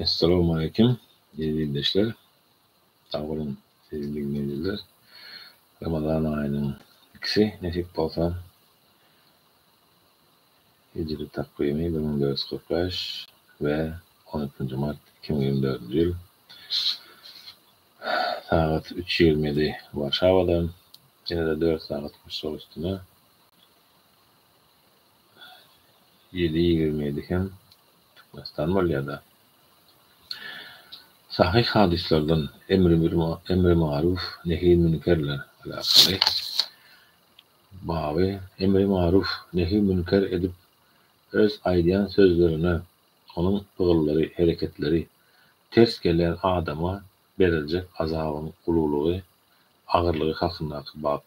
Essalamu aleýkum, eziz ildeşler. Sag boluň, eziz diňleýjiler. Ramazan aýynyň ikisi nesip bolsa, hijri takwymy bir müň dört ýüz kyrk bäş we on iki mart iki müň ýigrimi dördünji ýyl Sagat üç ýigrimi idi Warşawada. Ýene-de dört sagat guşak üstüne. Ýedi ýigrimi ýedi hem Türkmenistan bolýar-da. Sahyh hadyslardan emri maruf, nehi münkerler alakaly baby emri maruf, nehi münker edip öz aýdýan sözlerine Onuň pygyllary, hereketleri, ters gelýän adama beriljek azabyň ululygy, agyrlygy hakyndaky bap.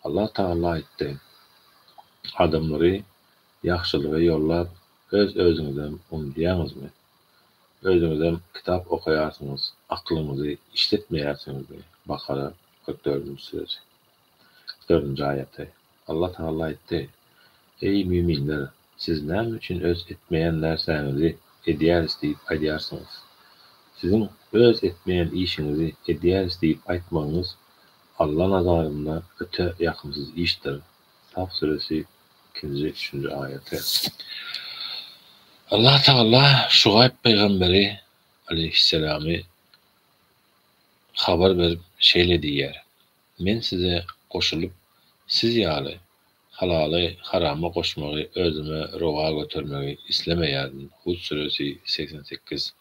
Allah Tagala aýtdy, Adamlary ýagşylyga ýollap, öz-özüňizem unudýaňyzmy? Özüňizem kitap okaýarsyňyz, aklyňyzy işletmeýärsiňizmi? Bakara, kyrk dördünji süresi. Dördünji aýaty. Allah Tagala aýtdy, Eý, müminler! Siz näme üçin öz etmeýän närsäňizi edýäris diýip aýdýarsyňyz? Siziň öz etmeýän işiňizi edýäris diýip aýtmagyňyz Alla nazarynda öte ýakymsyz işdir. Saf süresi ikinji, üçünji aýaty. Allah Tagala Şugaýb pygamberi, aleýhisselamy, habar berip, şeýle diýýär, Men size goşulyp, siz ýaly halaly harama goşmagy özüme rowa götermegi islemeýärin, Hud süresi segsen sekiz.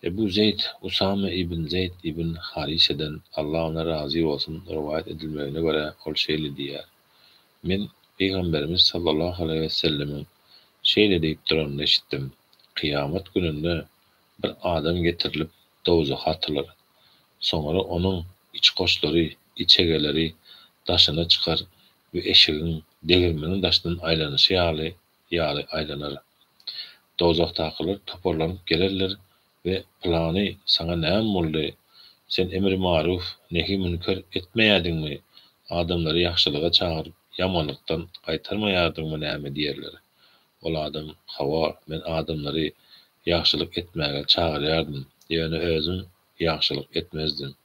Ebu Zeýd, Usame ibn Zeýd ibn Hariseden, Allah ondan razy bolsun, rowaýat edilmegine görä, ol şeýle diýýär, Men Pygamberimiz sallallahu aleýhi we sellemiň şeýle diýip duranyny eşitdim, Kyýamat gününde bir adam getirilip, dowzaha atylar. Soňra onuň içgoşlary, içegeleri daşyna çykar we eşigiň degirmeniň daşyndan aýlanyşy ýaly ýaly aýlanar. Dowzahdakylar toparlanyp gelerler we Pylany, saňa näme boldy? Sen emri maruf, nehi münker etmeýärdiňmi? Adamlary ýagşylyga çagyryp, ýamanlykdan gaýtarmaýardyňmy näme diýerler. Ol adam, Hawa, men adamlary ýagşylyk etmäge çagyrýardym, ýöne özüm ýagşylyk etmezdim,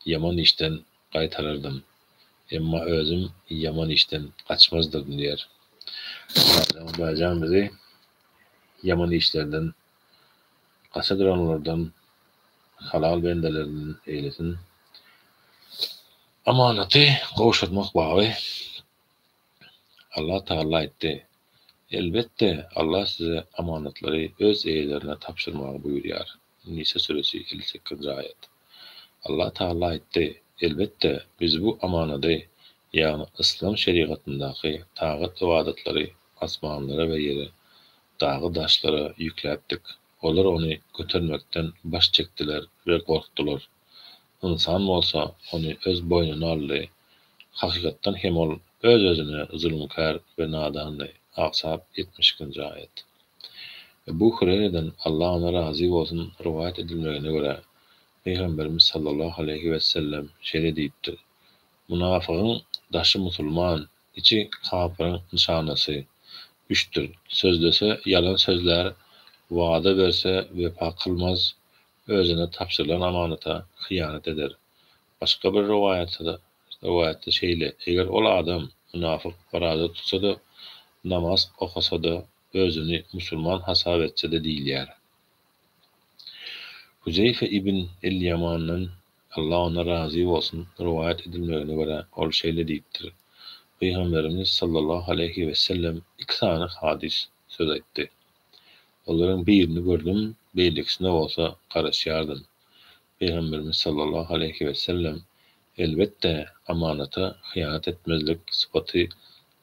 ýaman işden gaýtarardym, emma özüm ýaman işden gaçmazdyryn diýer. Şeýle-de Hudaýjan bizi ýaman işlerden gaça duranlardan, halal bendelerinden eýlesin. Amanaty gowşurmak baby Allah Tagalla aýtdy, Elbetde, Allah size amanatlary öz eýelerine tabşyrmagy buýurýar. Nisa süresi, elli sekizinji aýat. Allah Tagalla aýtdy, Elbetde, Biz bu amanady, ýagny yslam şerigatyndaky tagat-ybadatlary asmanlara we ýere, dagy-daşlara ýükläpdik. Olar ony götermekden baş çekdiler we gorkdular. Ynsan bolsa ony öz boýnuna aldy. Hakykatdan hem ol öz-özüne zulumkär we nadandy, Aksap, ýetmiş ikinji aýat. Ebu Hureýreden, Allah ondan razy bolsun, rowaýat edilmegine görä, Pygamberimiz sallallahu aleýhi wesellem şeýle diýipdir, Munafygyň daşy musulman, içi kapyryň nyşanasy, üçdir, sözlese ýalan sözlär, wada berse wepa kylmaz, özüne tabşyrylan amanata hyýanat eder. Başga bir rowaýatda şeýle, Eger ol adam mynafyk, oraza tutsa-da, namaz okasa-da, özüni musulman hasap etse-de diýilýär. Huzeýfe ibn el-Ýamandan, Allah ondan razy bolsun, rowaýat edilmegine görä, ol şeýle diýipdir, Pygamberimiz sallallahu aleýhi wesellem iki sany hadys, söz aýtdy. Olaryň birini gördüm, beýlekisine bolsa garaşýardym. Pygamberimiz sallallahu aleýhi wesellem, Elbetde, amanata hyýanat etmezlik sypaty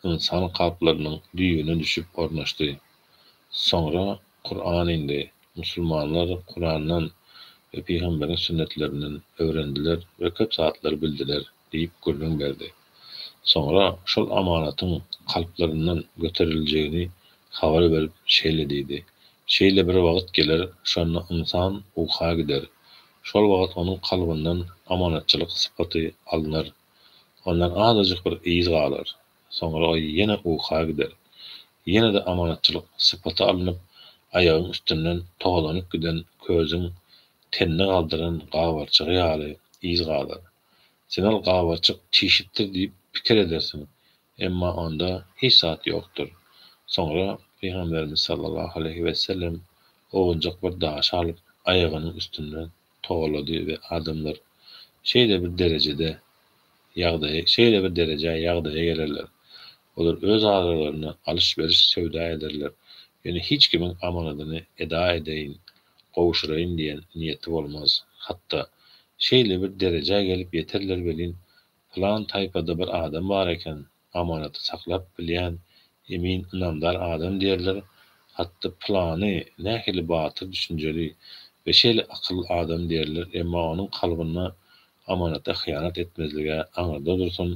ynsan kalplarynyň düýbüne düşüp ornaşdy. Soňra Kuran indi. Musulmanlar Kurandan we pygamberiň sünnetlerinden öwrendiler we köp zatlary bildiler. Diýip gürrüň berdi. Soňra şol amanatyň kalplaryndan göteriljegini habar berip şeýle diýdi, Şeýle bir wagt geler, şonda ynsan uka gider. Şol wagt onuň kalbyndan amanatçylyk sypaty alnar. Ondan azajyk bir yz galar. Soňra o ýene uka gider. Ýene-de amanatçylyk sypaty alnyp, aýagyň üstünden togalanyp giden közüň tenini galdyran gabarçygy ýaly yz galar. Zenal gabaçyk çişipdir diýip pikir edersiň, emma onda hiç zat ýokdur. Soňra Pygamberimiz sallallahu aleýhi wesellem owunjak bir daşy alyp, aýagynyň üstünde togalady we adamlar şeýle bir derejede ýagdaýa şeýle bir derejä ýagdaýa gelerler, olar öz aralarynda alyş-beriş söwda ederler, ýöne hiç kimiň amanadyny eda edeýin, gowşuraýyn diýen niýeti bolmaz. Hatda, şeýle bir derejä gelip ýeterler welin, pylan taýpada bir adam bar eken, amanaty saklap bilýän, emin, ynamdar adam diýerler, hatda pylany nähili batyr, düşünjeli we şeýle akylly adam diýerler, emma onuň kalbynda amanata hyýanat etmezlige aňyrda dursun,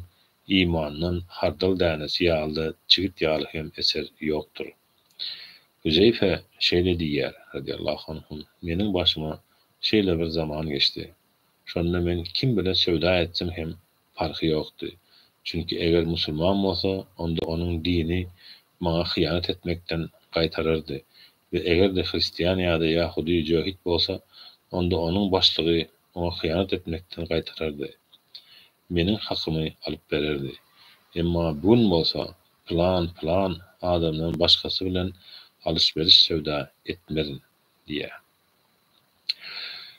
imandan hardal dänesi ýaly-da çigit ýaly hem eser ýokdur. Hüzeýfe şeýle diýýär, radiýallahu anhu, Meniň başyma şeýle bir zaman geçdi. Şonda men kim bile söwda etsem hem parhy ýokdy. Çünki eger musulman bolsa, onda onuň dini maňa hyýanat etmekden gaýtarardy we eger-de hristian ýa-da ýahudy jöhit bolsa, onda onuň başlygy oňa hyýanat etmekden gaýtarardy. Meniň hakymy alyp bererdi. Emma bu gün bolsa, Plan, plan adamdan başgasy bilen alyş-beriş söwda etmezin diýýär.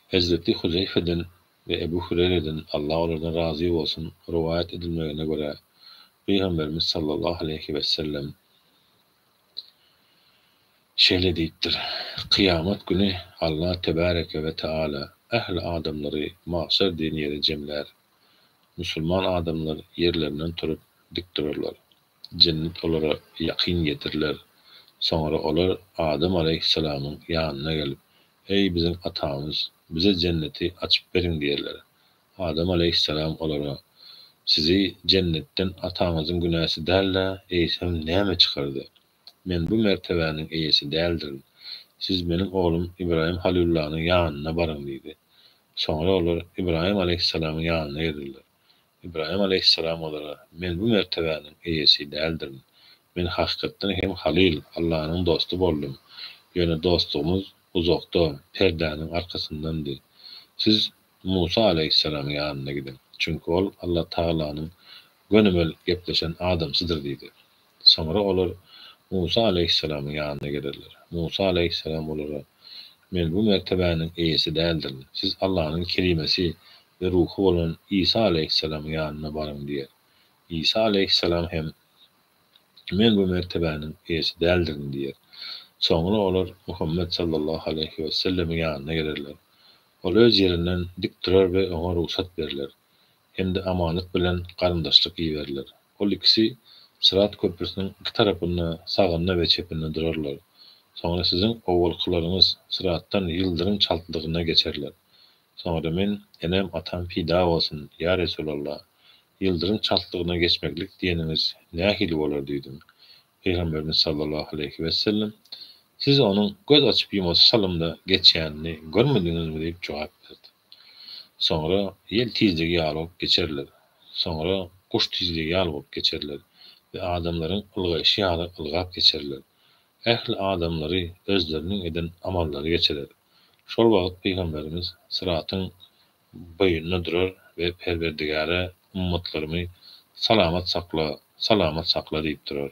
Hezreti Huzeýfeden we Ebu Hüreýreden, Allah olardan razy bolsun, rowaýat edilmegine görä, Pygamberimiz sallallahu aleýhi wesellem şeýle diýipdir, Kyýamat güni Allah tebareke we taala ähli adamlary magşar diýen ýere jemlär. Musulman adamlar ýerlerinden turup dik durarlar. Jennet olara ýakyn getiriler. Soňra olar Adam alaýhyssalamyň ýanyna gelip, Eý, biziň atamyz, bize jenneti açyp beriň diýerler. Adam alaýhyssalam olara, Sizi jennetden ataňyzyň günäsi däl-de, eýsem näme çykardy? Men bu mertebäniň eýesi däldirin. Siz meniň oglum Ybraýym halylullanyň ýanyna baryň diýdi. Soňra olar Ybraýym aleýhissalamyň ýanyna girdiler. Ybraýym aleýhissalam olara, Men bu mertebäniň eýesi däldirin. Men hakykatdan hem halyl, Allanyň dosty boldum. Ýöne dostlugymyz uzakda, perdäniň arkasyndandy. Siz Musa alaýhyssalamyň ýanyna gidiň, çünki ol Allatagalanyň gönümel gepleşen adamsydyr diýdi. Soňra olar Musa alaýhyssalamyň ýanyna gelerler. Musa alaýhyssalam olara, Men bu mertebäniň eýesi däldirin. Siz Allanyň kelimesi we ruhy bolan Isa alaýhyssalamyň ýanyna baryň diýer. Isa alaýhyssalam hem, Men bu mertebäniň eýesi däldirin diýer. Soňra olar Muhammet sallallahu aleýhi wesellemiň ýanyna gelerler. Ol öz ýerinden dik durar we oňa rugsat berler hem-de amanat bilen garyndaşlyk iberiler. Ol ikisi Syrat köprüsiniň iki tarapynda sagynda we çepinde durarlar. Soňra siziň owalkylaryňyz Syratdan ýyldyrym çaltlygynda geçerler. Soňra men, enem, atam pida bolsun, ýa Resulalla! Ýyldyrym çaltlygynda geçmeklik diýeniňiz nähili bolar diýdim. Pygamberimiz sallallahu aleýhi wesellem, Siz onuň göz açyp-ýumasy salymda geçýänini görmediňizmi diýip jogap berdi. Soňra ýel tizligi ýaly bolup geçerler. Soňra guş tizligi ýaly bolup geçerler we adamlaryň ylgaýşy ýaly ylgap geçerler. Ähli adamlary özleriniň eden amallary geçirer. Şol wagt Pygamberimiz Syratyň boýunda durar we Perwerdigäre ummatlarymy salamat sakla, salamat sakla diýip durar.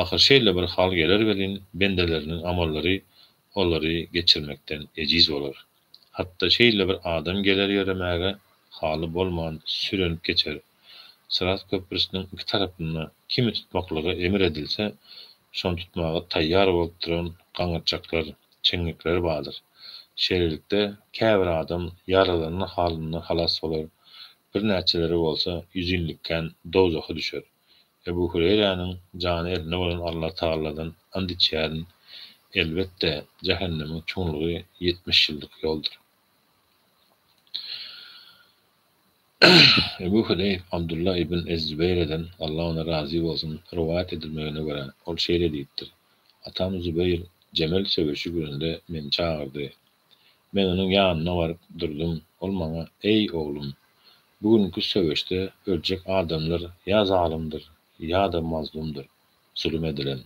Ahyr şeýle bir hal geler welin, bendeleriniň amallary olary geçirmekden ejiz bolar. Hatda şeýle bir adam geler ýöremäge haly bolman sürenip geçer. Syrat köprüsiniň iki tarapynda kimi tutmaklygy emir edilse, şony tutmaga taýýar bolup duran gaňyrçaklar, çeňňekler bardyr. Şeýlelikde, käbir adam ýaralanan halynda halas bolar, birnäçeleri bolsa ýüzinlikän dowzaha düşer. Ebu Hureýräniň jany elinde bolan Allatagaladan and içýärin, elbetde, jähennemiň çuňlugy ýetmiş ýyllyk ýoldur. Ebu Hudeýf Abdulla ibn ez-Zübeýreden, Allah ondan razy bolsun, rowaýat edilmegine görä, ol şeýle diýipdir, Atam Zübeýr Jemel söweşi gününde meni çagyrdy. Men onuň ýanyna baryp durdum, ol maňa, Eý, oglum! Bu günki söweşde öljek adamlar ýa zalymdyr, ýa-da mazlumdyr, zulum edilen.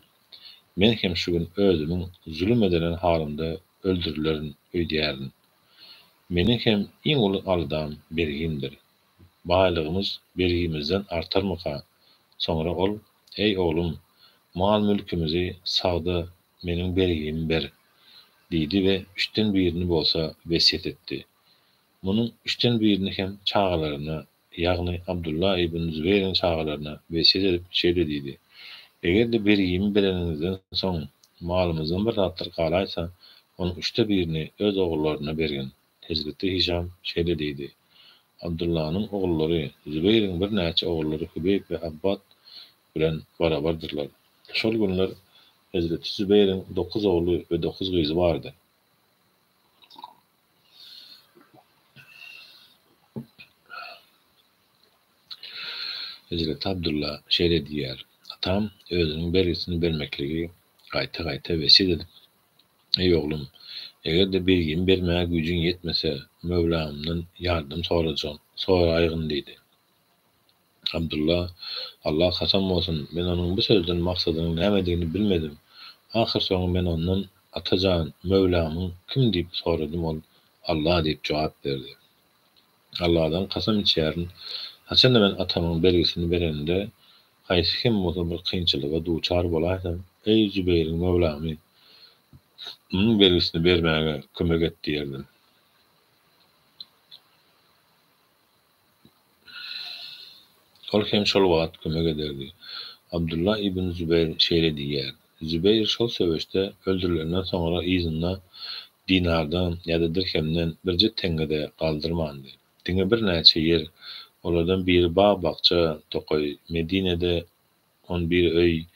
Men hem şu gün özümiň zulum edilen halymda öldürilerin öýdýärin. Meniň hem iň uly aldam bergimdir. Baýlygymyz bergimizden artarmyka? Soňra ol, Eý, oglum, mal-mülkümizi sag-da, meniň bergimi ber! diýdi we üçden birini bolsa wesýet etdi. Munuň üçden birini hem çagalaryna ýagny Abdulla ibn Zübeýriň çagalaryna wesýet edip şeýle diýdi, Eger-de bergimi bereniňizden soň malymyzdan bir zatlar galaýsa, onuň üçde birini öz ogullaryna bergin. Hezreti Hişam şeýle diýdi, Abdullanyň ogullary Zübeýriň birnäçe ogullary Hübeýp we Abbad bilen barabardyrlar. Şol günler hezreti Zübeýriň dokuz ogly we dokuz gyzy bardy. Hezreti Abdulla şeýle diýýär, Atam özüniň bergisini bermekligi gaýta-gaýta wesýet edip, Eý oglum, eger-de bergimi bermäge güýjüň ýetmese, Möwlamdan ýardam sorajagyn, soraýgyn diýdi. Abdylla, Alla kasam bolsun, men onuň bu sözden maksadynyň nämedigini bilmedim. Ahyrsoňy men ondan, Ata jan, Möwlamyň kim diýip soradym, ol, Alla diýip jogap berdi. Alladan kasam içýärin, haçanda men atamyň bergisini berenimde, haýsy hem bolsa bir kynçylyga duçar bolaýsam, Eý, Zübeýriň Möwlamy, munuň bergisini bermäge kömek et diýerdim. Ol hem şol wagt kömek ederdi. Abdullah ibn Zübeýr şeýle diýýär, Zübeýr şol söweşde öldürilenden soňra yzynda dinardan ýa-da dirhemden birje teňňe-de galdyrmandy. Diňe birnäçe ýer, olardan biri bag-bakja, tokaý, Medinede On bir öý,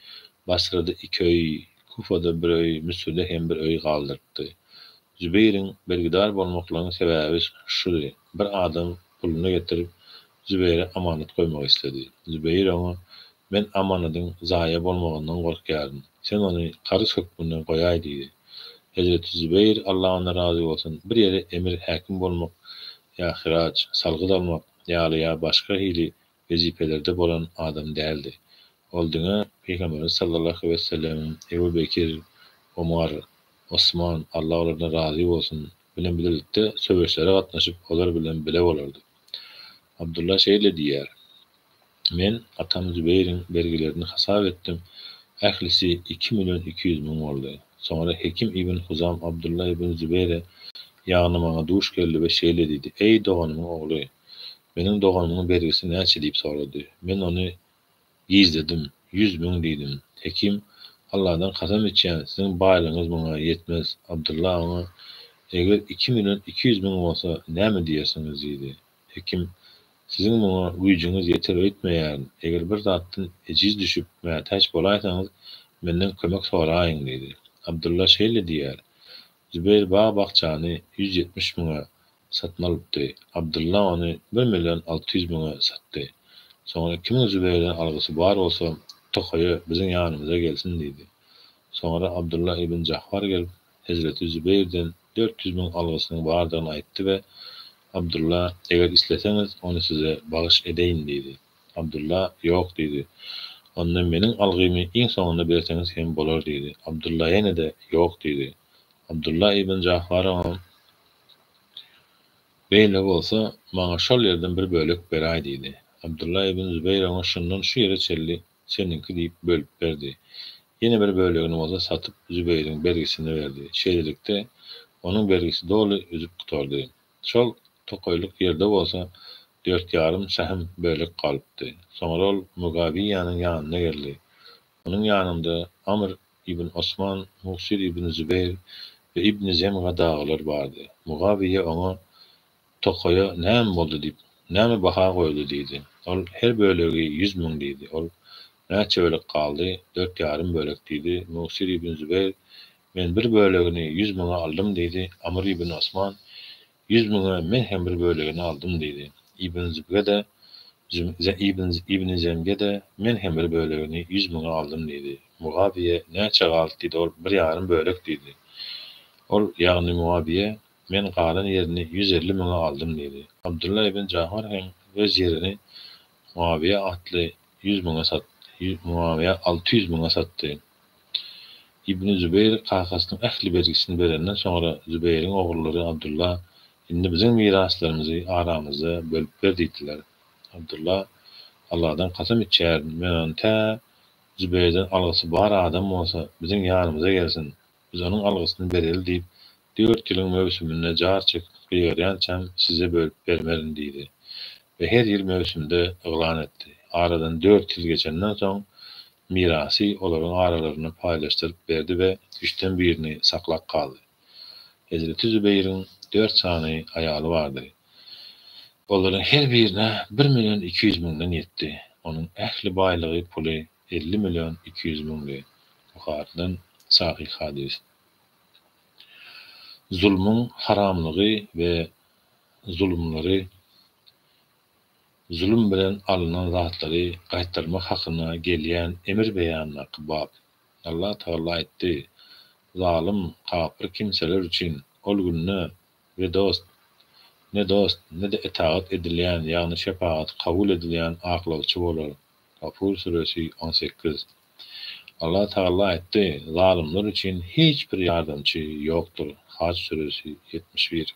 Basrada iki öý, Kufada bir öý, Müsürde hem bir öý galdyrypdy. Zübeýriň bergidar bolmaklarynyň sebäbi şudy, bir adam puluny getirip, Zübeýre amanat goýmak isledi. Zübeýir oňa, Men amanadyň zaýa bolmagyndan gorkýaryn. Sen ony karyz hökmünde goýaý diýdi. Hezreti Zübeýir, Allah ondan razy bolsun, bir ýere emir-häkim bolmak ýa hyraç, salgyt almak ýaly ýa başga hili wezipelerde bolan adam däldi. Ol diňe Pygamberimiz sallallahu wesellemiň Ebu Bekir, Omar, Osman, Allah olardan razy bolsun, bilen bilelikde söweşlere gatnaşyp, olar bilen bile bolardy. Abdullah şeýle diýýär, Men atam Zübeýriň bergilerini hasap etdim, ählisi iki million iki ýüz müň boldy. Soňra Hekim ibn Huzam Abdullah ibn Zübeýre, ýagny maňa duş geldi we şeýle diýdi, Eý, doganymyň ogly! Meniň doganymyň bergisi näçe diýip sorady. Men ony gizledim. Ýüz müň diýdim. Hekim, Alladan kasam içýän, siziň baýlygyňyz muňa ýetmez. Abdylla oňa, Eger iki million iki ýüz müň bolsa, näme diýersiňiz? diýdi. Hekim, Siziň muňa güýjüňiz ýeter öýtmeýärin. Eger bir zatdan ejiz düşüp, mätäç bolaýsaňyz, menden kömek soraýyň diýdi. Abdylla şeýle diýýär, Zübeýir bag-bakjany ýüz ýetmiş müňe, satyn alypdy. Abdylla ony bir million alty ýüz müňe satdy. Soňra iki müň Zübeýrden algysy bar bolsa, tokaýa, biziň ýanymyza gelsin diýdi. Soňra Abdylla ibn Jahwar gelip, hezreti Zübeýrden dört ýüz müň algysynyň bardygyny aýtdy we Abdylla, Eger isleseňiz, ony size bagyş edeýin diýdi. Abdylla, Ýok diýdi. Onda meniň algymy iň soňunda berseňiz hem bolar diýdi. Abdylla ýene-de, Ýok diýdi. Abdylla ibn Jahwar oňa, Beýle bolsa, maňa şol ýerden bir bölek beräý diýdi. Abdylla ibn Zübeýr oňa şundan şu ýere çenli seniňki diýip bölüp berdi. Ýene bir bölegini bolsa satyp Zübeýriň bergisine berdi. Şeýlelikde, onuň bergisi doly üzüp gutardy. Şol tokaýlyk ýerde bolsa dört ýarym sähm bölek galypdy. Soňra ol Mugawyýanyň ýanyna geldi. Onuň ýanynda Amr Ibn Osman, Mugsir ibn Zübeýr we ibn Zemga dagylar bardy. Mugawyýe oňa, Tokaýa näme boldy diýip, näme baha goýuldy diýdi. Ol, Her bölegi ýüz müň diýdi. Ol, Näçe bölek galdy? Dört ýarym bölek diýdi. Mugsir ibn Zübeýr, Men bir bölegini ýüz müňe aldym diýdi. Amr ibn Osman, Ýüz müňe men hem bir bölegini aldym diýdi. Ibn Zibge-de, Ibn Zemge-de, Men hem bir bölegini, ýüz müňi, aldym diýdi. Mugawyýe, Näçe galyt diýdi, ol, Bir ýarym bölek diýdi. Ol, ýagny Mugawyýe, Men galan ýerini ýüz elli müňe aldym diýdi. Abdylla ibn Jahwar hem öz ýerini Mugawyýe atly ýüz müňe satdy, Mugawyýe alty ýüz müňe satdy. Ibni Zübeýr kakasynyň ähli bergisini berenden soňra, Zübeýriň ogullary Abdylla, Indi biziň miraslarymyzy aramyzda bölüp ber diýdiler. Abdylla, Alladan kasam içýärin, men ony tä Zübeýrden algysy bar adam bolsa, biziň ýanymyza gelsin, biz onuň algysyny bereli diýip, dört ýylyň möwsüminde jar çekip gyýarýançam size bölüp bermerin diýdi we her ýyl möwsümde yglan etdi. Aradan dört ýyl geçenden soň, mirasy olaryň aralarynda paýlaşdyryp berdi we üçden birini saklap galdy. Hezreti Zübeýriň dört sany aýaly bardy. Olaryň her birine bir million iki ýüz müňden ýetdi. Onuň ähli baýlygy, puly elli million iki ýüz müňdi. Buharydan sahyh hadys. Zulmuň haramlygy we zulumlary Zulum bilen alnan zatlary gaýtarmak hakynda gelýän emir beýanyndaky bap. Allah Tagala aýtdy, Zalym, kapyr kimseler üçin ol günde we dost, ne dost, ne-de etagat edilýän, ýagny şepagat kabul edilýän aklawçy bolar. Gafur süresi on sekiz. Allah Tagala aýtdy, Zalymlar üçin hiç bir ýardamçy ýokdur. Haj süresi ýetmiş bir.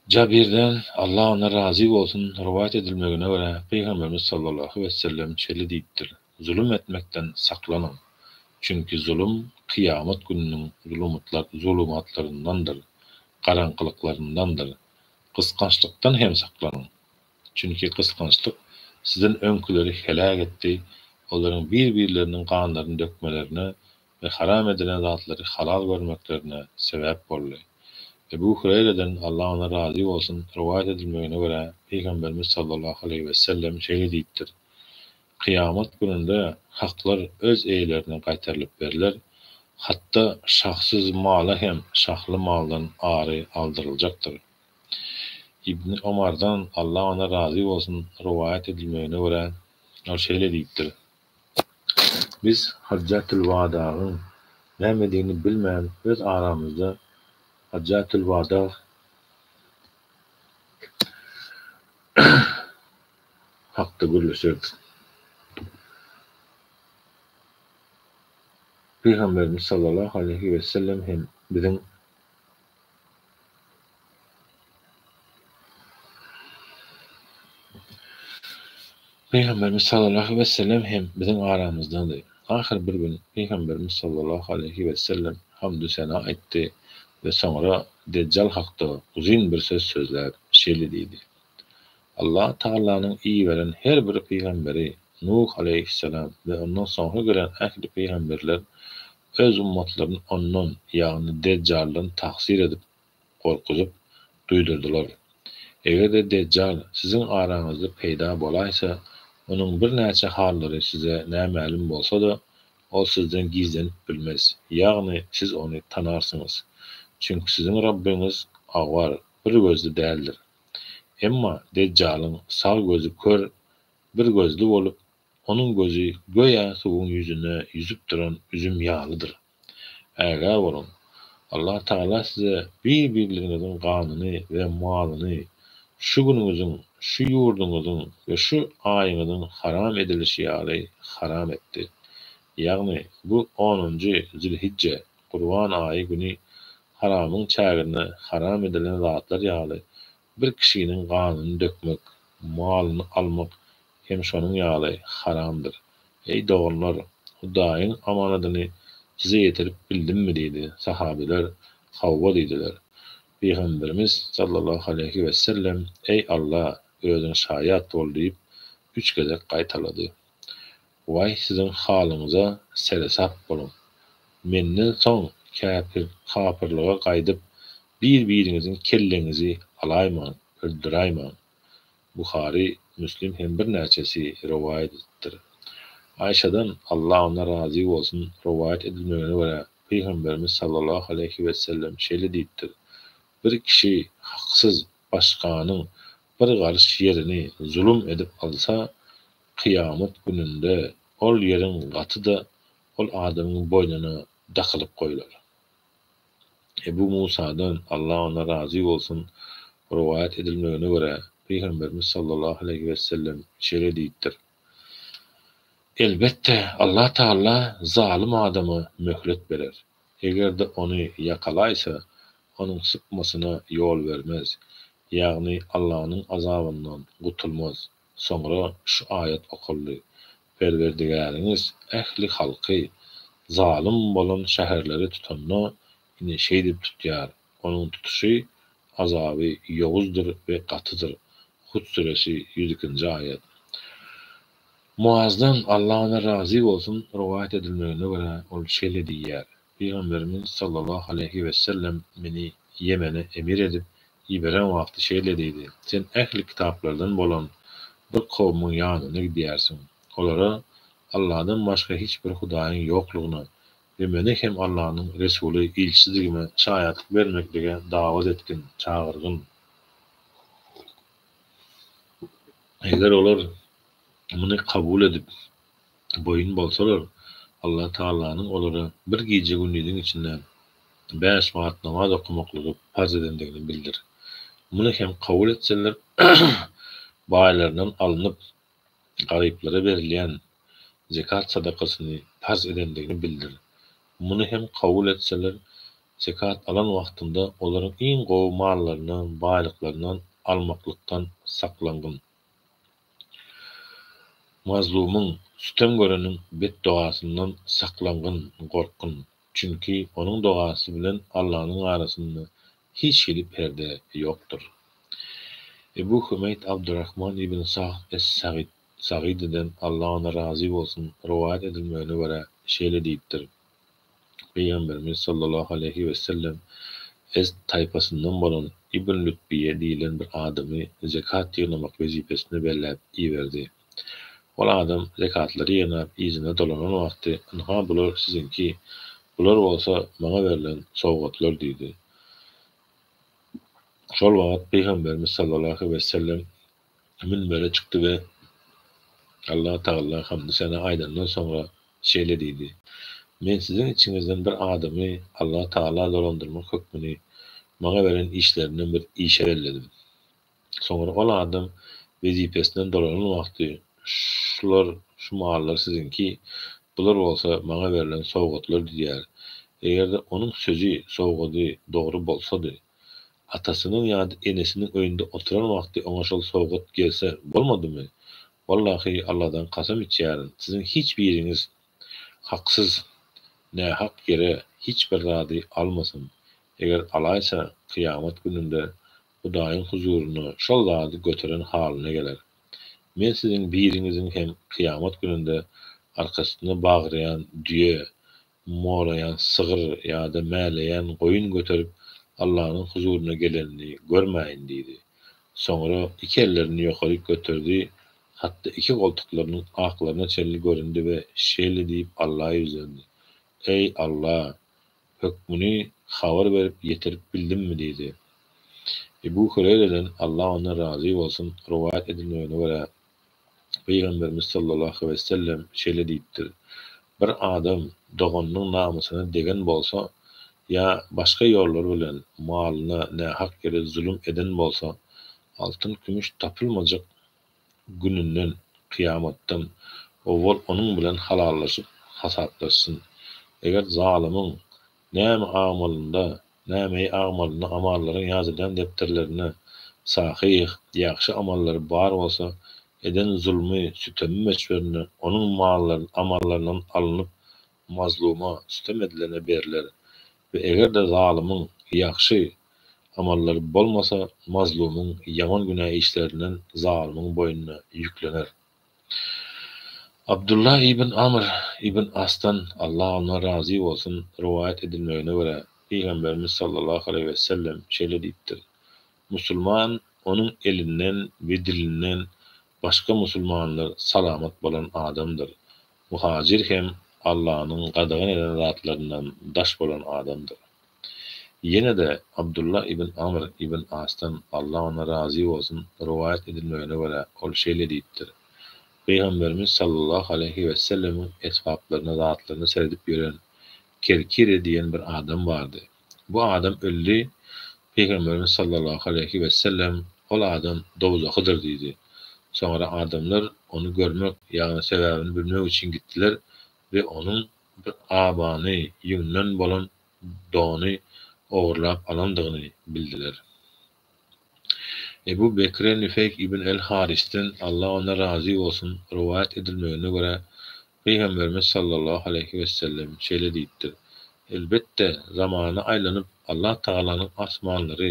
Jabirden, Allah ondan razy bolsun, rowaýat edilmegine görä, Pygamberimiz sallallahu wessellem şeýle diýipdir, Zulum etmekden saklanyň! Çünki zulum kyýamat gününiň zulumatlaryndandyr, garaňkylyklaryndandyr. Gysgançlykdan hem saklanyň! Çünki gysgançlyk sizden öňküleri heläk etdi, olaryň bir-birleriniň ganlaryny dökmelerine we haram edilen zatlary halal görmeklerine sebäp boldy. Ebu Hüreýreden, Allah ondan razy bolsun, rowaýat edilmegine görä, Pygamberimiz sallallahu aleýhi wesellem şeýle diýipdir, Kyýamat gününde haklar öz eýelerine gaýtarylyp berler, hatda şahsyz mala hem şahly maldan ary aldyryljakdyr. Ibni Omardan, Allah ondan razy bolsun, rowaýat edilmegine görä, ol şeýle diýipdir, Biz Hajjatylwadagyň nämedigini bilmän öz aramyzda Hajjatylwadag hakda gürleşerdik. Pygamberimiz sallallahu aleýhi wesellem hem biziň Pygamberimiz sallallahu ve sellem hem biziň aramyzdady. Ahyr bir gün Pygamberimiz sallallahu aleýhi ve sellem hamdu sena aýtdy ve soňra Dejjal hakda uzyn bir söz sözläp, şeýle diýdi, Allah Taalanyň iberen her bir pygamberi, Nuh aleýhissalam ve ondan soňra gelen ähli pygamberler Öz ummatlaryny ondan, ýagny Dejjaldan tahzir edip, gorkuzyp, duýdurdylar. Eger-de Dejjal siziň araňyzda peýda bolaýsa, onuň birnäçe hallary size nämälim bolsa-da, ol sizden gizlenip bilmez, ýagny siz ony tanarsyňyz. Çünki siziň Rabbyňyz agwar, bir gözli däldir. Emma Dejjalyň sag gözi kör, bir gözli bolup, Onuň gözi göýä suwuň ýüzüne ýüzüp duran üzüm ýalydyr. Ägä boluň! Allah Tagala size bir-birleriňiziň ganyny we malyny şu günüňiziň, şu ýurduňyzyň we şu aýyňyzyň haram edilişi ýaly haram etdi. Ýagny, bu onunjy zülhijje, gurban aýy güni haramyň çäginde haram edilen zatlar ýaly bir kişiniň ganyny dökmek, malyny almak hem şonuň ýaly haramdyr. Eý, doganlar! Hudaýyň amanadyny size ýetirip bildimmi? diýdi. Sahabeler, Hawa diýdiler. Pygamberimiz, sallallahu aleýhi wessellem, Eý, Alla, Özüň şaýat bol! diýip, üç gezek gaýtalady. Waý, siziň halyňyza seresap boluň! Menden soň käpir, kapyrlyga gaýdyp, bir-biriňiziň kelleňizi alaýmaň, öldüräýmäň! Buhary, Müslim hem birnäçesi rowaýat edipdir. Aýşadan, Allah ondan razy bolsun, rowaýat edilmegine görä, Pygamberimiz sallallahu aleýhi wesellem şeýle diýipdir, Bir kişi haksyz başganyň bir garyş ýerini zulum edip alsa, kyýamat gününde ol ýeriň gaty-da ol adamyň boýnuna dakylyp goýlar. Ebu Musadan, Allah ondan razy bolsun, rowaýat edilmegine görä, Pygamberimiz sallallahu aleýhi wesellem şeýle diýipdir, Elbetde, Allah Tagala zalym adama möhlet berer. Eger-de ony ýakalaýsa, onuň sypmasyna ýol bermez, ýagny Allanyň azabyndan gutulmaz. Soňra şu aýat okaldy, Perwerdigäriňiz ähli halky, zalym bolan şäherleri tutanda, ine, şeýdip tutýar, onuň tutuşy, azaby, ýowuzdyr we gatydyr. Hut süresi, ýüz ikinji aýat. Muazdan, Allah ondan razy bolsun, rowaýat edilmegine görä, ol şeýle diýýär, Pygamberimiz sallallahu aleýhi wessellem meni Ýemene emir edip, Iberen wagty şeýle diýdi, Sen ähli kitaplardan bolan bir kowumyň ýanyna gidýärsiň. Olara Alladan başga hiç bir hudaýyň ýoklugyna we meni hem Allanyň Resuly, Ilçidigime şaýatlyk bermeklige dawat etgin, çagyrgyn. Eger olar muny kabul edip. boýun bolsalar, Allah Tagalanyň olara bir gije-gündiziň içinde bäş wagt namaz okamaklygy parz edendigini bildir. Muny hem kabul etseler, baýlaryndan alnyp, garyplara berilýän zekat sadakasyny parz edendigini bildir. Muny hem kabul etseler, zekat alan wagtynda olaryň iň gowy mallaryny, baýlyklaryndan almaklykdan saklangyn. Mazlumyň, sütem göreniň betdogasyndan saklangyn, gorkgyn, çünki onuň dogasy bilen Allanyň arasynda hiç hili perde ýokdur. Ebu Hümeýt Abdyrrahman ibn Sahl es-Sagid, Sagididen, Allah ondan razy bolsun, rowaýat edilmegine görä, şeýle diýipdir, Pygamberimiz sallallahu aleýhi wesellem Ezd taýpasyndan bolan Ibn Lütbiýe diýlen bir adamy zekat ýygnamak wezipesine belläp iberdi. Ol adam zekatlary ýygnap yzyna dolanan wagty, Ynha bular siziňki, bular bolsa maňa berlen sowgatlar diýdi. Şol wagt Pygamberimiz sallallahu aleýhi wesellem münbere çykdy we Alla Tagala hamdy-sena aýdandan soňra şeýle diýdi, Men siziň içiňizden bir adamy Alla Tagala dolandyrmak hökmüni maňa beren işlerinden bir işe belledim. Soňra ol adam wezipesinden dolanan wagty, Şular, şu mallar siziňki, bular bolsa maňa berlen sowgatlar diýer. Eger-de onuň sözi, sowgady dogry bolsady, Atasynyň ýa-da enesiniň öýünde oturan wagty oňa şol sowgat gelse, bolmadymy? Wallahy, Alladan kasam içýärin, siziň hiç biriňiz haksyz, nähak ýere hiç bir zady almasyn. Eger alaýsa, kyýamat gününde Hudaýyň huzuryna şol zady göteren halyna geler. Men siziň biriňiziň hem kyýamat gününde arkasyna bagrýan düýe Molaýan sygyr ýa-da mäleýän goýun göterip Allanyň huzuryna gelenini görmäýin diýdi. Soňra iki ellerini ýokaryk göterdi, hatda iki goltuklarynyň aklaryna çenli göründi we şeýle diýip Alla ýüzlendi, Eý, Alla! Hökmüni habar berip ýetirip bildimmi? diýdi. Ebu Hüreýreden, Alla ondan razy bolsun, rowaýat edilmegine görä, Pygamberimiz sallallahu wesellem şeýle diýipdir, Bir adam doganynyň namysyna degen bolsa ýa başga ýollar bilen malyna nähak ýere zulum eden bolsa, altyn-kümüş tapylmajak gününden, kyýamatdan, owal onuň bilen halallaşyp hasaplaşsyn. Eger zalymyň Näme agmalynda, nämeýi agmalynda amallaryň ýazylýan depderlerinde, sahyh, ýagşy amallary bar bolsa, eden zulmy, sütemi möçberinde onuň mallary amallaryndan alnyp, mazluma, sütem edilene berler. We eger-de zalymyň, ýagşy, amallary bolmasa, mazlumyň, ýaman günä işlerinden zalymyň boýnuna, ýüklener. Abdulla ibn Amr ibn Asdan, Allah ondan razy bolsun, rowaýat edilmegine görä, Pygamberimiz sallallahu aleýhi wesellem şeýle diýipdir, Musulman onuň elinden we dilinden başga musulmanlar salamat bolan adamdyr, Muhajyr hem Allanyň gadagan eden zatlaryndan daş bolan adamdyr. Ýene-de Abdullah ibn Amr ibn Asdan, Allah ondan razy bolsun, rowaýat edilmegine görä, ol şeýle diýipdir, Pygamberimiz sallallahu aleýhi wesellemiň esbaplaryna, zatlaryna seredip ýören Kerkire diýen bir adam bardy. Bu adam öldi, Pygamberimiz sallallahu aleýhi wesellem, Ol adam dowzahydyr diýdi. Soňra adamlar ony görmek, ýagny sebäbini bilmek üçin gitdiler we onuň bir abany, ýüňden bolan dony, ogurlap alandygyny bildiler. Ebu Bekre Nüfeýk ibn el-Harisden, Allah ondan razy bolsun, rowaýat edilmegine görä, Pygamberimiz sallallahu aleýhi wessellem şeýle diýipdir, Elbetde, zamana aýlanyp, Allah Tagalanyň asmanlary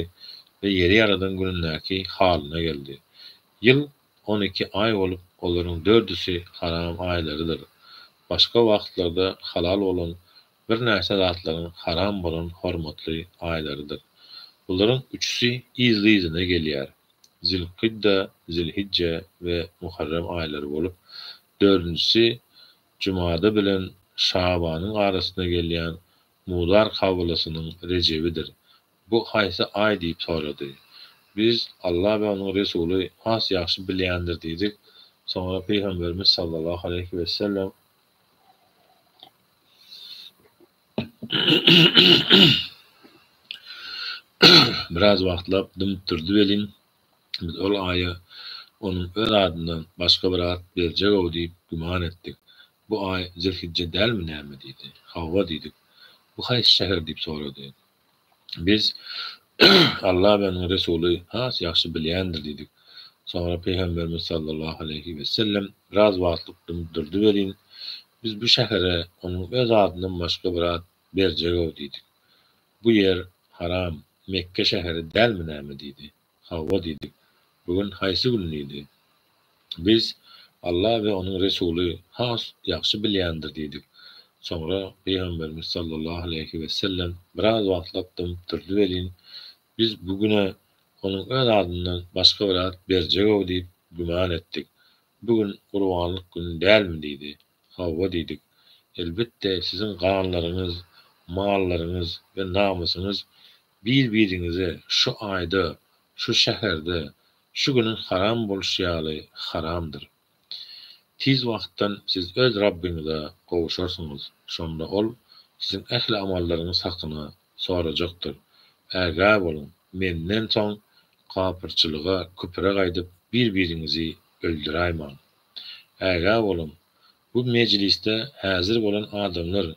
we ýeri ýaradan günündäki halyna geldi. Ýyl on iki aý bolup, olaryň dördüsi haram aýlarydyr. Başga wagtlarda halal bolan birnäçe zatlaryň haram bolan hormatly aýlarydyr. Bularyň üçüsi yzly-yzyna gelýär. Zilkydda, Zilhijje we Muharrem aýlary bolup, dördünjisi Jumada bilen Şabanyň arasyna gelýän Mudar kabalasynyň Rejebidir. Bu haýsy aý diýip sorady. Biz, Allah we onuň Resuly has ýagşy bilýändir diýdik. Soňra Pygamberimiz sallallahu aleýhi wessellem. Biraz wagtlap dymyp durdy welin, biz ol aýa onuň öz adyndan başga bir at berjeg-ow diýip güman etdik. Bu aý Zilhijje dälmi näme? diýdi. Hawa diýdik. Bu haýsy şäher? diýip sorady. Biz Alla we onuň Resuly has ýagşy bilýändir diýdik. Soňra Pygamberimiz sallallahu aleýhi wesellem biraz wagtlyk durdy welin, Biz bu şähere onuň öz adyndan başga bir at berjeg-ow diýdik. Bu ýer haram, Mekge şäheri dälmi näme diýdi. Hawa diýdik. Bu gün haýsy gün diýdi. Biz, Alla we onuň Resuly has ýagşy bilýändir diýdik. Soňra Pygamberimiz sallallahu aleýhi wesellem biraz wagtlap dymyp durdy welin, biz bu güne onuň öz adyndan başga bir at berjeg-ow diýip güman etdik. Bu gün gurbanlyk güni dälmi diýdi. Hawa diýdik. Elbetde, siziň ganlaryňyz, mallaryňyz we namysyňyz bir-biriňize şu aýda, şu şäherde, şu günüň haram bolşy ýaly haramdyr. Tiz wagtdan siz öz Rabbyňyza gowuşarsyňyz. Şonda Ol siziň ähli amallaryňyz hakyna sorajakdyr. Ägä boluň, Menden soň kapyrçylyga, küpre gaýdyp, bir-biriňizi öldüräýmäň. Ägä boluň! Bu mejlisde häzir bolan adamlar,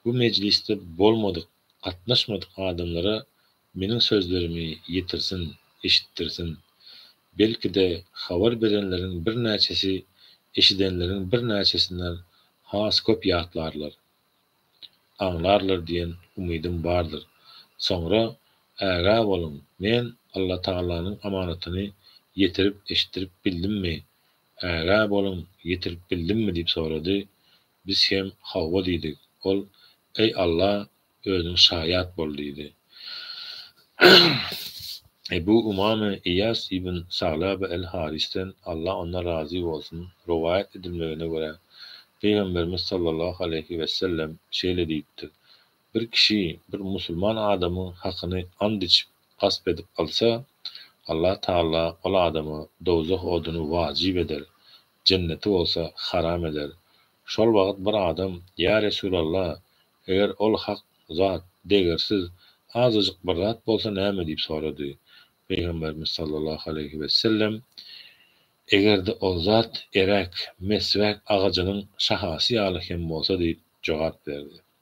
bu mejlisde bolmadyk, gatnaşmadyk adamlara meniň sözlerimi ýetirsin, eşitdirsin. Belki-de, habar berenleriň birnäçesi eşidenleriň birnäçesinden has köp ýatlarlar. aňlarlar diýen umydym bardyr. Soňra ägä boluň men Allatagalanyň amanatyny ýetirip eşitdirip bildimmi, ägä boluň ýetirip bildimmi diýip sorady. Biz hem hawwa diýdik. Ol Eý Alla özüň şaýat bol diýdi. Ebu Umame Eýas ibn Saglabe el-Harisden, Allah ondan razy bolsun, rowaýat edilmegine görä, Pygamberimiz sallallahu aleýhi wesellem şeýle diýipdir, Bir kişi bir musulman adamyň hakyny ant içip, gasp edip alsa, Allah Tagala ol adama dowzah oduny wajyp eder, jenneti bolsa haram eder. Şol wagt bir adam, Ýa Resulalla, eger ol hak zat, degersiz, azajyk bir zat bolsa näme diýip sorady. Pygamberimiz sallallahu aleýhi wesellem, Eger-de ol zat eräk, meswäk agajynyň şahasy ýaly hem bolsa diýip jogap berdi.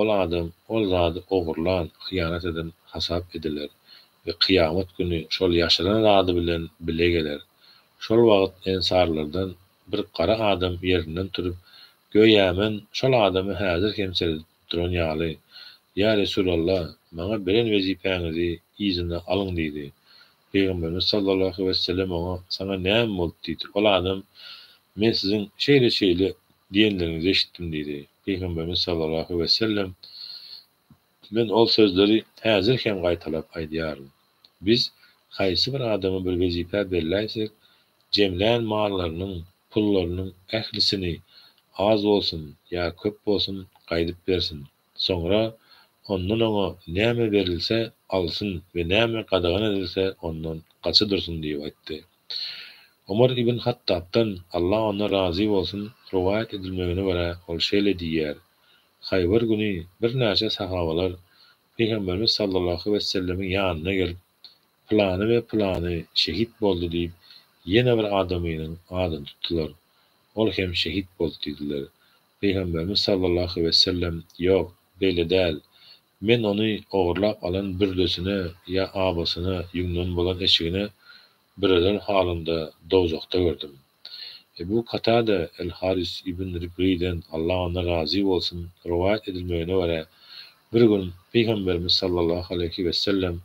Ol adam ol zady ogurlan, hyýanat eden hasap ediler we kyýamat güni şol ýaşyran zady bilen bile geler. Şol wagt ensarlardan bir gara adam ýerinden turup, göýä men şol adamy häzir hem seredip duran ýaly, Ýa Resulalla, maňa beren wezipäňizi yzyna alyň diýdi. Pygamberimiz sallallahu wesselem oňa, Saňa näme boldy? diýdi. Ol adam, Men siziň şeýle-şeýle diýenleriňizi eşitdim diýdi. Pygamberimiz sallallahu wesselem, Men ol sözleri häzir hem gaýtalap aýdýaryn. Biz haýsy bir adama bir wezipä berläýsek, jemlän mallarynyň, pullarynyň ählisini, az bolsun ýa köp bolsun, gaýdyp bersin. Soňra ondan oňa näme berilse, alsyn we näme gadagan edilse, ondan gaça dursun diýip aýtdy. Omar ibn Hattabdan, Allah ondan razy bolsun, rowaýat edilmegine görä, ol şeýle diýýär, Haýbar güni birnäçe sahabalar Pygamberimiz sallallahu wessellemiň ýanyna gelip, Pylany we pylany şehit boldy diýip, ýene bir adamynyň adyny tutdular. Ol hem şehit boldy diýdiler. Pygamberimiz sallallahu wesellem, Ýok, beýle däl. Men ony ogurlap alan bürdesine ýa abasyna ýüňden bozan eşigine büreler halynda dowzahda gördüm. Ebu Katada el-Haris ibn Ribriden, Allah ondan razy bolsun, rowaýat edilmegine görä, bir gün Pygamberimiz sallallahu aleýhi wesellem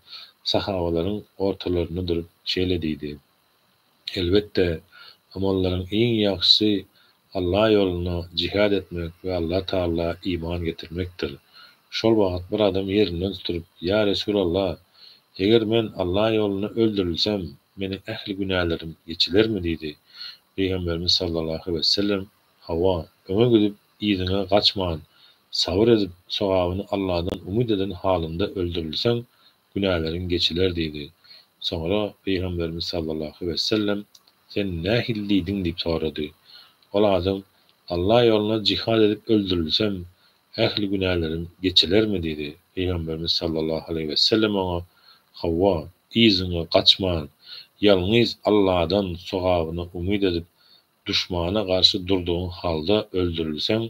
sahabalaryň ortalarynda durup şeýle diýdi, Elbetde, amallaryň iň ýagşysy Allah ýolunda jihad etmek we Allah Taala iman getirmekdir. Şol wagt bir adam ýerinden turup, Ýa Resulallah! Eger men Allah ýolunda öldürilsem, Meniň ähli günälerim geçilermi? diýdi. Pygamberimiz sallallahu wesellem, Hawa, öňe gidip, yzyňa gaçman, sabyr edip, sogabyny Alladan umyt eden halyňda öldürilseň, günäleriň geçiler diýdi. Soňra Pygamberimiz sallallahu wesellem, Sen nähili diýdiň? diýip sorady. Ol adam, Alla ýoluna jihad edip öldürilsem, Ähli günäleriň geçilermi? diýdi. Pygamberimiz sallallahu aleýhi wesellem oňa, Hawa, yzyňa gaçman, ýalňyz Alladan sogabyny umyt edip, duşmana garşy durdugyň halda öldürilseň,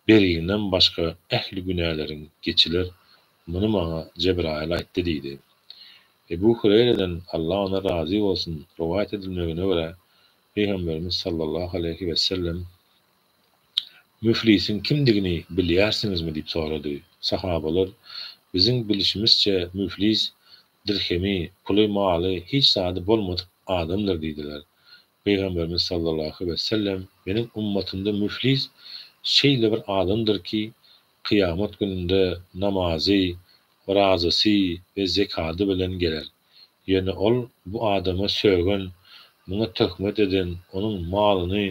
beriňden başga ähli günäleriň geçiler, muny maňa Jebraýyl aýtdy diýdi. Ebu Hureýreden, Allah ondan razy bolsun, rowaýat edilmegine görä, Pygamberimiz sallallahu aleýhi wesellem, Müflisiň kimdigini bilýärsiňizmi? diýip sorady. Sahabalar, Biziň bilşimizçe, müflis dirhemi, puly, maly, hiç zady bolmadyk adamdyr diýdiler. Pygamberimiz sallallahu wesellem, Meniň ummatymda müflis şeýle bir adamdyr ki, kyýamat gününde namazy, orazasy we zekady bilen geler. Ýöne ol bu adama sögen, muňa töhmet eden, onuň malyny,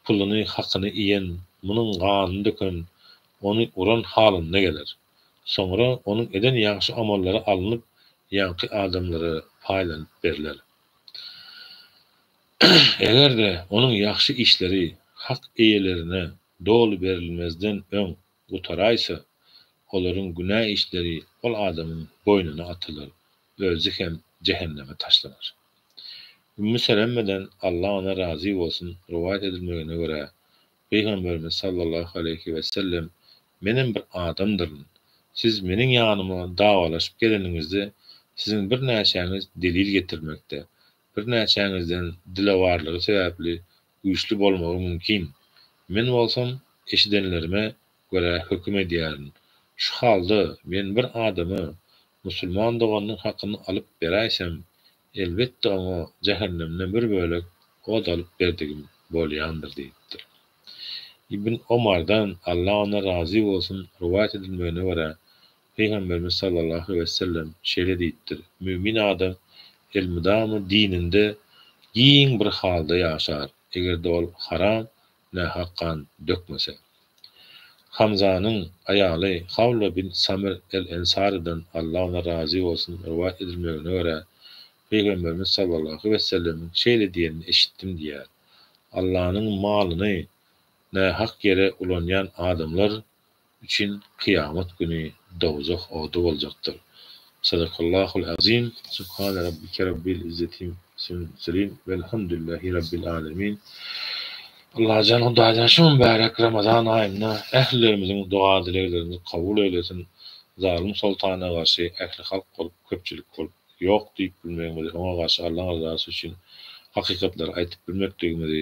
puluny, hakyny iýen, munuň ganyny döken, ony uran halynda geler. Soňra onuň eden ýagşy amallary alnyp, ýaňky adamlara paýlanyp berler. Eger-de onuň ýagşy işleri hak eýelerine doly berilmezden öň gutaraýsa, olaryň günä işleri ol adamyň boýnuna atylar, özi hem jähenneme taşlanar. Ümmu Selemmeden, Allah ondan razy bolsun, rowaýat edilmegine görä, Pygamberimiz sallallahu aleýhi wesellem, Menem bir adamdyryn. Siz meniň ýanyma dawalaşyp geleniňizde, siziň birnäçäňiz delil getirmekde, Birnäçäňizden dilewarlygy sebäpli güýçli bolmagy mümkin. Men bolsam eşidenlerime görä höküm edýärin. Şu halda men bir adama musulman doganynyň hakyny alyp beräýsem, elbetde oňa jähennemden bir bölek ot alyp berdigim bolýandyr diýipdir. Ibn Omardan, Allah ondan razy bolsun, rowaýat edilmegine görä, Pygamberimiz sallallahu wesellem şeýle diýipdir, Mümin adam elmydama dininde giň bir halda ýaşar, eger-de ol haram, nähak gan dökmese. Hamzanyň aýaly Hawla bint Samir el-Ensarydan, Allah ondan razy bolsun, rowaýat edilmegine görä, Pygamberimiz sallallahu wesellemiň şeýle diýenini eşitdim diýýär, Allanyň malyny nähak ýere ulanýan adamlar, üçin kyýamat güni dowzah ody boljakdyr. Sadakallahul Azim. Subhane Rabbike Rabbil Izzetim Ismil Murselin Velhamdülillahi Rabbil Alemin Allajan Hudaýdan şu mübärek Ramazan aýynda ählilerimiziň doga dileglerimizi kabul eýlesin zalym soltana garşy ähli halk bolup köpçülik bolup ýok diýip bilmegimizi oňa garşy Allaň ryzasy üçin hakykatlary aýtyp bilmekligimizi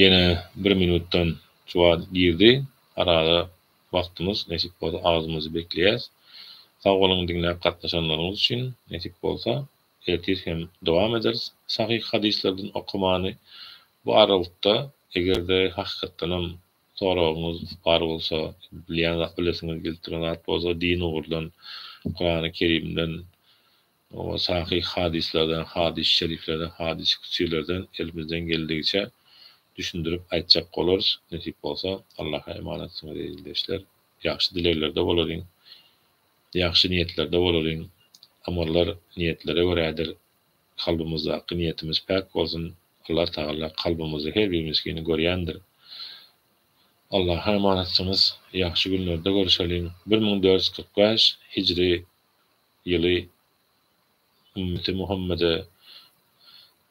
Ýene bir minutdan juwan girdi. Arada wagtymyz nesip bolsa agzymyzy bekleýäs. Sag boluň diňläp gatnaşanlaryňyz üçin. Nesip bolsa ertir hem dowam ederis sahyh hadyslardan okamany. Bu arawykda egerde hakykatdanam soragyňyz bar bolsa, bilýän zat bilesiňiz gelip duran zat bolsa din ugurdan, Kurany Kerimden Oňa sahyh hadyslardan, hadys-y şeriflerden, hadys-y kütsilerden elimizden geldigiçe düşündirip aýtjak bolarys, nesip bolsa. Allaha emanatsyňyz, eziz ildeşler! Ýagşy dileglerde bolalyň! Ýagşy niýetlerde bolalyň! Amallar niýetlere görädir. Kalbymyzdaky niýetimiz päk bolsun! Allatagala kalbymyzda her bir miskini görýändir. Allaha emanatsyňyz! Ýagşy günlerde görüşeliň! Bir müň dört ýüz kyrk bäş hijri ýyly ümmeti Muhammede,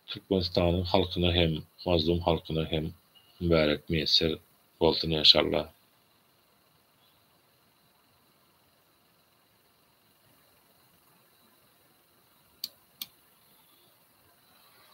Türkmenistanyň halkyna hem, mazlum halkyna hem mübärek miýesser bolsun enşalla.